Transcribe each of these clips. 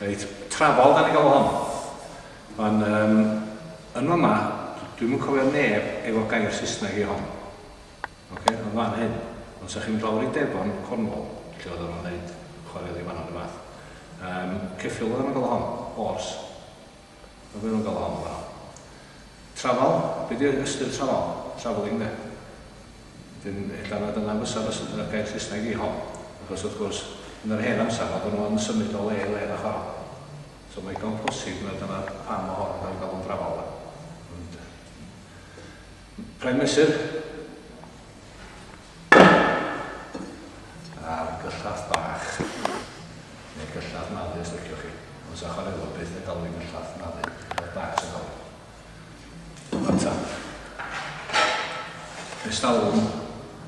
Reit, trafal dan ni'n galw hon. Ond um, yn yma, dwi'm yn cofio neb efo gair Saesneg i hon. Oce, okay? yn fan hyn. Ond sa chi'n dod i Devon, Cornwall, lle oedd o'n wneud chwarae oddi fanno, dy fath. Um, ceffil oedd o'n galw hon, horse. Mae hwn yn galon dda. Trafal, be di ystyr trafal? Travelling de. Wedyn, ella na dyna fysa fys- y gair Saesneg i hon. Achos wrth gwrs, yn yr hen amser, oedden nhw yn symud o le i le yn y chwarel. So mae digon posib na dyna pam mae hon yn cael ei galw'n trafal de. Ond, prime mesur. A'r gyllell bach, neu gyllell malu os liciwch chi, ond sa chwarelwr byth yn galw hi'n gyllell malu, gyllell bach sy'n galw. Dyma'r tap. Ers talwm,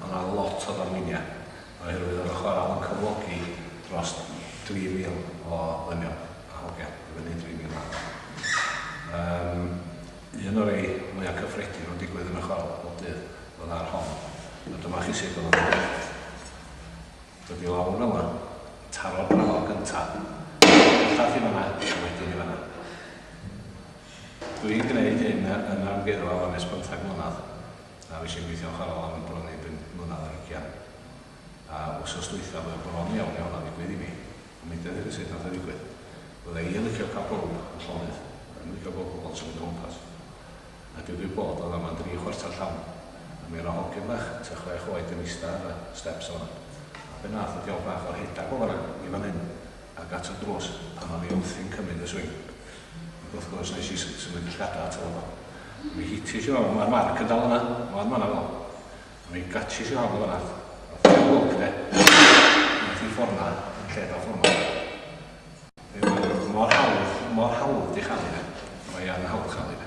mae yna lot o ddarluniau, oherwydd oedd y chwarel yn cyflogi dros 3,000 o ddynion a hogiau, i fyny 3,000 a hanner. Um, un o'r ei mwyaf cyffredin o'n digwydd yn y chwarel bob dydd. Fel ar hon. A dyma chi sut oedd o'n mynd. Dod i lawr yma. Taro'r brafal gyntaf. Bellach i fanna, a wedyn i fanna. Dwi'n gwneud hyn yn amgueddfa fan nes bymthag mlynedd. A fi sy'n gweithio'n chwarel am bron i bum mlynedd ar hugian. A wsos dwytha fydde bron iawn iawn a ddigwydd i mi. A mi dedd i sut nath o ddigwydd. Fydde i yn licio cael pawb yn llonydd. Yn licio gweld pobl yn symud o gwmpas. a digwydd bod o ddaman dri chwarter llawn, a mi ro' hogyn fach tua chwech oed yn ista ar y steps o fan 'na. A be' nath y diawl bach o rhedag o fan 'na i fan 'yn ag at y drws pan o'n i wrthi'n cymyd y swing. Ag wrth gwrs nes i s- symud y llgada ato fo do. A mi hitish i fo, ma'r marc yn dal yna, ma' o yn fan 'na fel. A mi gatshish i fo am y fynna. Ath o i'r lwc de. Ath i ffor 'na yn lle do ffor 'ma. Be' ma' mor hawdd, mor hawdd 'di chamu de. Mae yn hawdd chamu de.